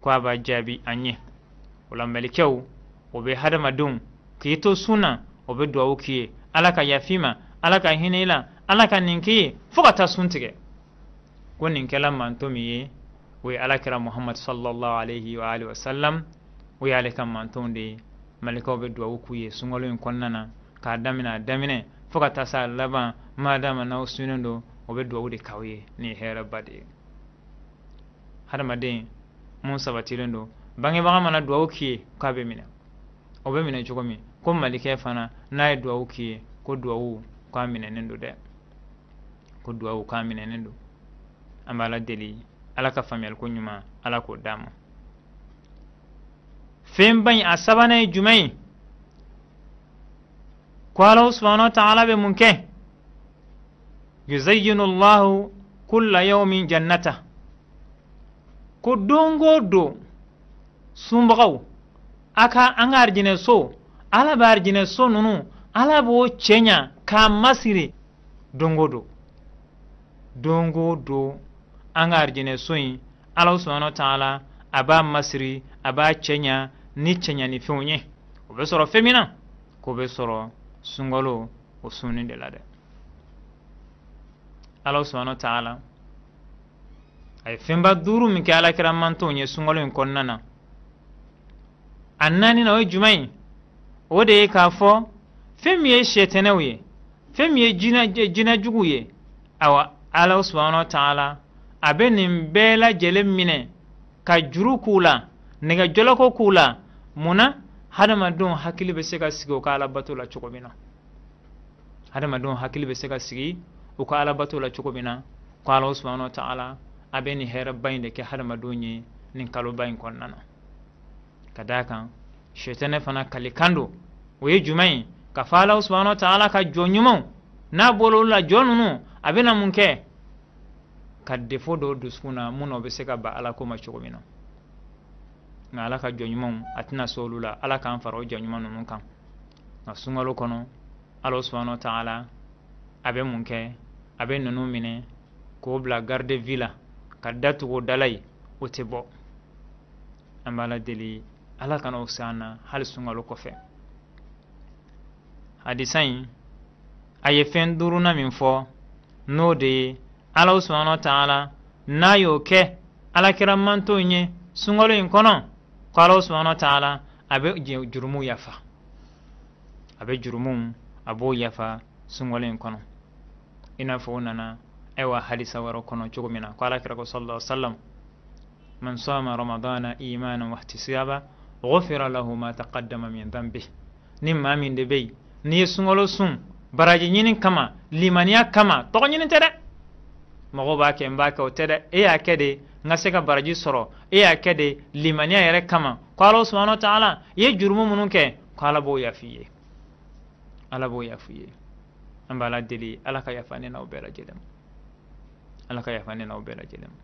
ko a b'a jaabi an ye o la malikɛw o bɛ hadamadenw k'i to sun na o bɛ duwawu k'i ye ala ka yaf'i ma ala ka hinɛ i la ala ka nin k'i ye fo ka taa sun tigɛ ko nin kɛla manton min ye o ye alakira muhamadu sallallahu alaihi wa alihi wa sallam o y'ale ka mantonw de ye malikɛw bɛ duwawu k'u ye sunkalo in kɔnɔna na k'a daminɛ a daminɛ fo ka taa s'a laban ma dama n'aw sunnen don o bɛ duwawu de k'aw ye nin ye hɛrɛba de ye hadamaden mun sabatilen don bangebaga mana duwawu k'i ye k'a bɛ minɛ o bɛ minɛ cogo min ko malikɛ fana n'a ye duwawu k'i ye ko duwawu k'a minɛnen don dɛ ko duwawu k'a minɛnen don an b'ala deli ala ka faamuyaliko ɲuman ala k'o d'an ma fɛnba in a sabanan ye jumɛn ye ko ala subahana taala bɛ mun kɛ yuzayyinu llahu kulla yawmin jannata ko don o don sunbagaw a ka an ka arijinɛ so ala bɛ arijinɛ so ninnu ala b'o cɛɲa k'a masiri don o don don o don an ka arijinɛ so in ala subahana taala a b'a masiri a b'a cɛɲa ni cɛɲanifɛnw ye o bɛ sɔrɔ fɛn min na k'o bɛ sɔrɔ sunkalo o sunni de la dɛ ala subahana taala a ye fɛnba duuru min kɛ alakira mantonw ye sunkalo in kɔnɔna na a naaninan o ye jumɛn ye o de ye k'a fɔ fɛn min ye shetɛnɛw ye fɛn min ye jinɛjuguw ye awa ala subahana taala a bɛ nin bɛɛ lajɛlen minɛ ka juru k'u la nɛgɛjɔlɔkɔ k'u la mun na hadamadenw hakili bɛ se ka sigi o ka alabato la cogo min na hadamadenw hakili bɛ se ka sigi u ka alabato la cogo min na ko ala subahana taala a bɛ nin hɛrɛba in de kɛ hadamadenw ye nin kaloba in kɔnɔna na ka d'a kan shetɛnɛ fana kalikan don o ye jumɛn ye k'a fɔ ala subahana taala ka jɔn ɲumanw n'a bɔla olu la jɔn ninnu a bɛna mun kɛ ka défaut don u dusukun na mun na o bɛ se ka ban ala ko ma cogo min na nka ala ka jɔn ɲumanw a tɛna se olu la ala k'an fara o jɔn ɲuman ninnu kan nka sunkalo kɔnɔ ala subahana taala a bɛ mun kɛ a bɛ ninnu minɛ k'o bila garde à vue la ka da tugu o da la yen o tɛ bɔ an b'ala deli ala kana o s'an na hali sunkalo kɔfɛ hadisa in a ye fɛn duurunan min fɔ n'o de ye ala subahana taala n'a y'o kɛ alakira mantonw ye sunkalo in kɔnɔ ko ala subahana taala a bɛ jurumu yafa a bɛ jurumu a b'o yafa sunkalo in kɔnɔ i n'a fɔ o nana ayiwa hadisa wɛrɛ kɔnɔ cogo min na ko ala kira ko sallallahu alaihi wasallam man sama ramadana imanan wa ihtisaba ghufira lahu ma taqaddama min dhanbi ni maa min de bɛ yen n'i ye sunkalo sun baraji ɲini kama limaniya kama tɔgɔ ɲini tɛ dɛ mɔgɔw b'a kɛ n b'a kɛ o tɛ dɛ e y'a kɛ de n ka se ka baraji sɔrɔ e y'a kɛ de limaniya yɛrɛ kama ko ala subahana wa taala i ye jurumu minnu kɛ ko ala b'o yaf'i ye ala b'o yaf'i ye an b'ala deli ala ka yafa ne n'aw bɛɛ lajɛlen ma ala ka yafa ne n'aw bɛɛ lajɛlen ma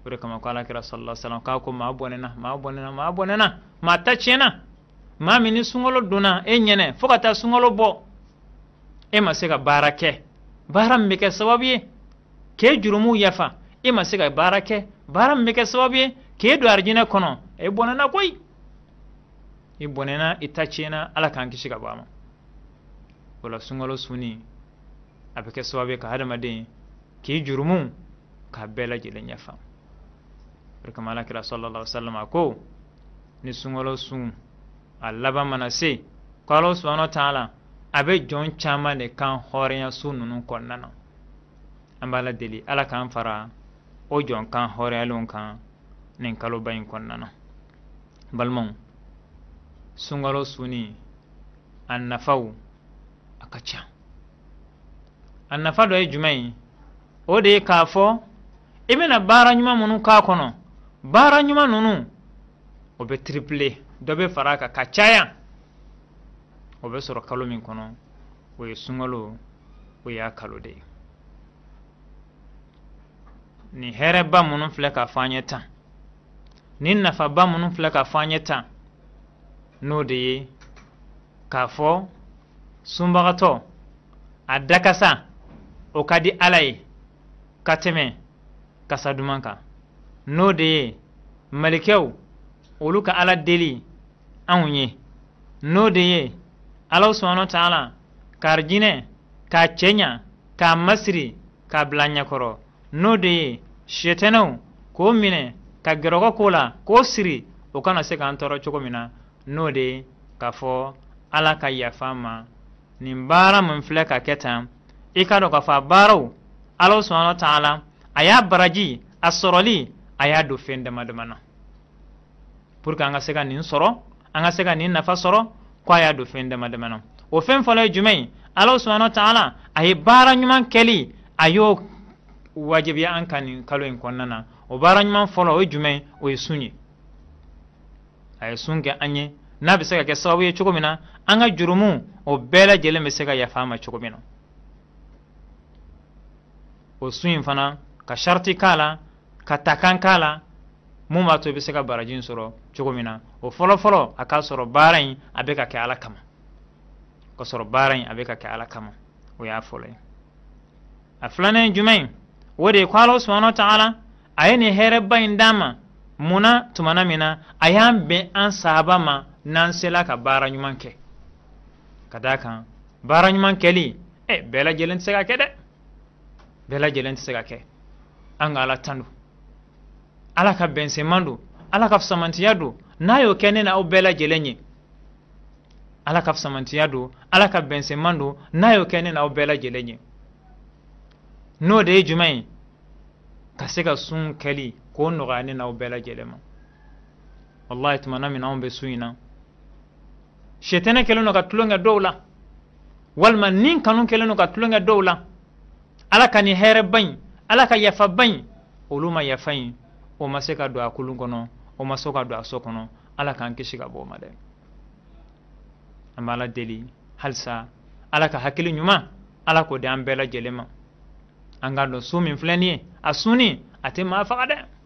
o de kama ko ala kira sallallahu alaihi wasallam k'a ko maa bɔnɛna maa bɔnɛna maa bɔnɛna maa ta tiɲɛna maa min ni sunkalo donna e ɲɛna fo ka taa sunkalo bɔ e ma se ka baara kɛ baara min bɛ kɛ sababu ye k'e jurumuw yafa e ma se ka baara kɛ baara min bɛ kɛ sababu ye k'e don arijinɛ kɔnɔ e bɔnɛna koyi i bɔnɛna i ta tiɲɛna ala k'an kisi ka bɔ a ma o la sunkalo sunni a bɛ kɛ sababu ye ka hadamaden k'i jurumu k'a bɛɛ lajɛlen yafa o kama ala kira sallallahu alaihi wasallam a ko ni sunkalo sun a laban mana se ko ala subahana taala a bɛ jɔn caman de kan hɔrɔnya su ninnu kɔnɔna na an b'ala deli ala k'an fara o jɔn kan hɔrɔnyalenw kan nin kaloba in kɔnɔna na balimaw sunkalo sunni a nafaw a ka ca a nafa dɔ ye jumɛn ye o de ye k'a fɔ i bɛna baara ɲuman minnu k'a kɔnɔ baara ɲuman ninnu o bɛ triple dɔ bɛ fara a kan ka caya o bɛ sɔrɔ kalo min kɔnɔ o ye sunkalo o y'a kalo de ye nin hɛrɛba minnu filɛ ka fɔ an ye tan nin nafaba minnu filɛ ka fɔ an ye tan n'o de ye k'a fɔ sunbagatɔ a dakasa o ka di ala ye ka tɛmɛ kasa duman kan n'o de ye malikɛw olu ka ala deli anw ye n'o de ye ala subahana wa taala ka arijinɛ k'a cɛɲa k'a masiri k'a bila ɲɛkɔrɔ n'o de ye sitanɛw k'o minɛ ka jɔrɔkɔ k'o la k'o siri o kana se k'an tɔɔrɔ cogo min na n'o de ye k'a fɔ ala ka yafa an ma nin baara min filɛ ka kɛ tan i k'a dɔn k'a fɔ a baaraw ala subahana wa taala a y'a baraji a sɔrɔli a y'a don fɛn dama dama na pour que an ka se ka nin sɔrɔ an ka se ka nin nafa sɔrɔ ko a y'a don fɛn dama dama na o fɛn fɔlɔ ye jumɛn ye ala subahana wa taala a ye baara ɲuman kɛli a y'o wajibiya an kan nin kalo in kɔnɔna na o baara ɲuman fɔlɔ o ye jumɛn ye o ye sun ye a ye sun kɛ an ye n'a bɛ se ka kɛ sababu ye cogo min na an ka jurumu o bɛɛ lajɛlen bɛ se ka yafa an ma cogo min na o sun in fana ka sariti k'a la ka takan k'a la mun b'a to i bɛ se ka baraji in sɔrɔ cogo min na o fɔlɔfɔlɔ a k'a sɔrɔ baara in a bɛ ka kɛ ala kama k'a sɔrɔ baara in a bɛ ka kɛ ala kama o y'a fɔlɔ ye a filanan ye jumɛn ye o de ye ko ala subahana wa taala a ye nin hɛrɛba in d'an ma mun na tumana min na a y'an bɛn an saba ma n'an sela ka baara ɲuman kɛ ka d'a kan baara ɲuman kɛli ɛ bɛɛ lajɛlen tɛ se ka kɛ dɛ bɛɛ lajɛlen tɛ se ka kɛ an ka ala tando ala ka bɛnsɛnman don ala ka fisamantiya don n'a y'o kɛ ne na aw bɛɛ lajɛlen ye ala ka fisamantiya don ala ka bɛnsɛnman don n'a y'o kɛ ne na aw bɛɛ lajɛlen ye n'o de ye jumɛn ye ka se ka sun kɛli k'o nɔgɔya ne na aw bɛɛ lajɛlen ma wallahi tumana min anw bɛ sun in na shetanɛ kɛlen don ka tulonkɛ dɔw la walima nikanu kɛlen don ka tulonkɛ dɔw la ala ka nin hɛrɛba in ala ka yafaba in olu ma yafa in o ma se ka don a kulun kɔnɔ o ma se ka don a so kɔnɔ ala k'an kisi ka bɔ o ma dɛ an b'ala deli halisa ala ka hakili ɲuman ala k'o di an bɛɛ lajɛlen ma an k'a dɔn sun min filɛ nin ye a sunni a tɛ maa faga dɛ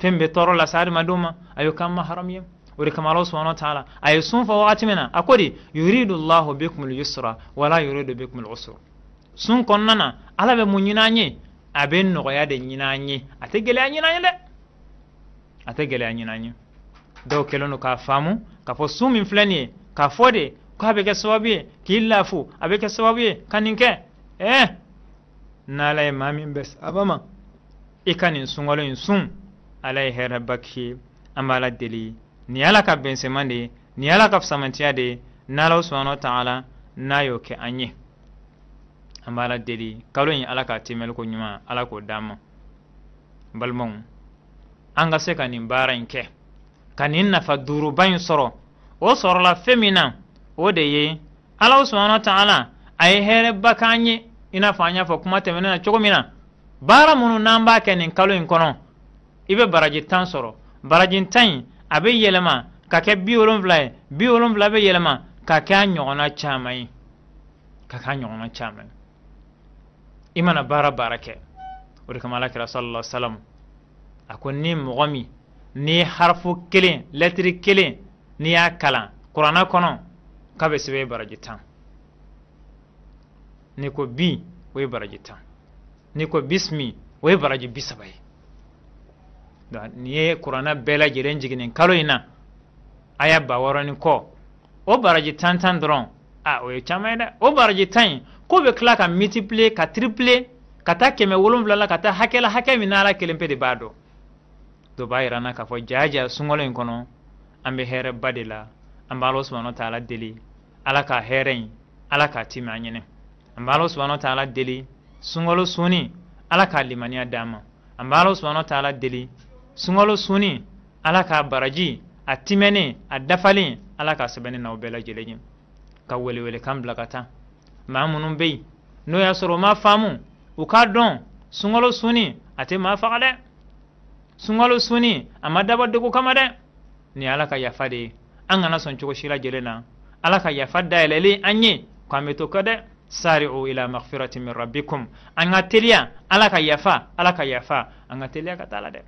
fɛn bɛ tɔɔrɔ lase adamadenw ma a y'o k'an ma haramu ye o de kama ala subahana wa taala a ye sun fɔ wagati min na a ko di yuridu llahu bikum lyusra wala yuridu bikum lusra sun kɔnɔna na ala bɛ mun ɲini an ye a bɛ nɔgɔya de ɲini an ye a tɛ gɛlɛya ɲini an ye dɛ a tɛ gɛlɛya ɲini an ye dɔw kɛlen don k'a faamu k'a fɔ sun min filɛ nin ye k'a fɔ de k'a bɛ kɛ sababu ye k'i lafu a bɛ kɛ sababu ye ka nin kɛ ɛɛ n'ala ye maa min bɛn saba ma i ka nin sunkalo in sun ala ye hɛrɛba k'i ye an b'ala deli nin ye ala ka bɛnsɛman de ye nin ye ala ka fisamantiya de ye n'ala subahana wa taala n'a y'o kɛ an ye an b'ala deli kalo in ala k'a tɛmɛli ko ɲuman ala k'o d'an ma balimaw an ka se ka nin baara in kɛ ka nin nafa duuruba in sɔrɔ o sɔrɔla fɛn min na o de ye ala subhanahu taala a ye hɛrɛba k'an ye i n'a fɔ an y'a fɔ kuma tɛmɛnen na cogo min na baara minnu n'an b'a kɛ nin kalo in kɔnɔ i bɛ baraji tan sɔrɔ baraji tan in a bɛ yɛlɛma ka kɛ bi wolonfila ye bi wolonfila bɛ yɛlɛma ka kɛ a ɲɔgɔnna caman ye ka kɛ a ɲɔgɔnna caman ye i mana baara baara kɛ o de kama ala kira sallallahu alaihi wa sallam a ko ni mɔgɔ min ni harafu kelen lɛtiri kelen n'i y'a kalan kuranna kɔnɔ k'a bɛ sɛbɛn baraji tan n'i ko bi o ye baraji tan n'i ko bisimi o ye baraji bi saba ye n'i ye kuranna bɛɛ lajɛlen jigin nin kalo in na aya ba wɔɔrɔ ni kɔ o baraji tan tan dɔrɔn a o ye caman ye dɛ o baraji tan in k'o bɛ tila ka mitipile ka tiripile ka taa kɛmɛ wolonwula la ka taa hakɛ la hakɛ min n'ala kelen pe de b'a dɔn o b'a yira an na k'a fɔ jaja sunkalo in kɔnɔ an bɛ hɛrɛba de la an b'ala subahana taala deli ala ka hɛrɛ in ala k'a timi an ɲɛnɛ an b'ala subahana taala deli sunkalo sunni ala k'a limaniya d'an ma an b'ala subahana taala deli sunkalo sunni ala k'a baraji a timɛnen a dafalen ala k'a sɛbɛn ne n'aw bɛɛ lajɛlen ye ka welewelekan bila ka taa maa minnu bɛ yen n'o y'a sɔrɔ u m'a faamu u k'a dɔn sunkalo sunni a tɛ maa faga dɛ sunkalo sunni a ma dabɔ degun kama dɛ nin ye ala ka yafa de ye an kana sɔn cogo si lajɛlen na ala ka yafa dayɛlɛlen an ye ko an bɛ to kɔ dɛ sari'u ila maghfirati min rabbikum an ka teliya ala ka yafa ala ka yafa an ka teliya ka taa a la dɛ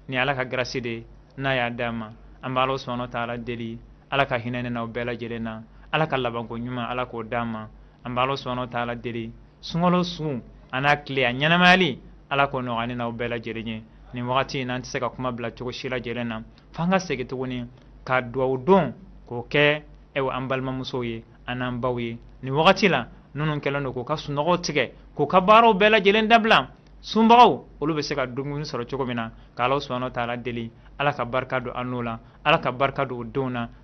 nin ala ka garasi de ye n'a y'a d'an ma an bɛ ala subahana taala deli ala ka hinɛ ne n'aw bɛɛ lajɛlen na ala ka labanko ɲuman ala k'o d'an ma an bɛ ala subahana taala deli sunkalo su a n'a tile a ɲɛnamayali ala k'o nɔgɔya ne n'aw bɛɛ lajɛlen ye nin wagati in na an tɛ se ka kuma bila cogo si lajɛlen na f'an ka segin tuguni ka duwawu don k'o kɛ ɛwɔ an balimamusow ye a n'an baw ye nin wagati la minnu kɛlen don k'u ka sunɔgɔw tigɛ k'u ka baaraw bɛɛ lajɛlen dabila sunbagaw olu bɛ se ka dumuni sɔrɔ cogo min na k'ala subahana taala deli ala ka barika don an n'u la ala ka barika don u denw na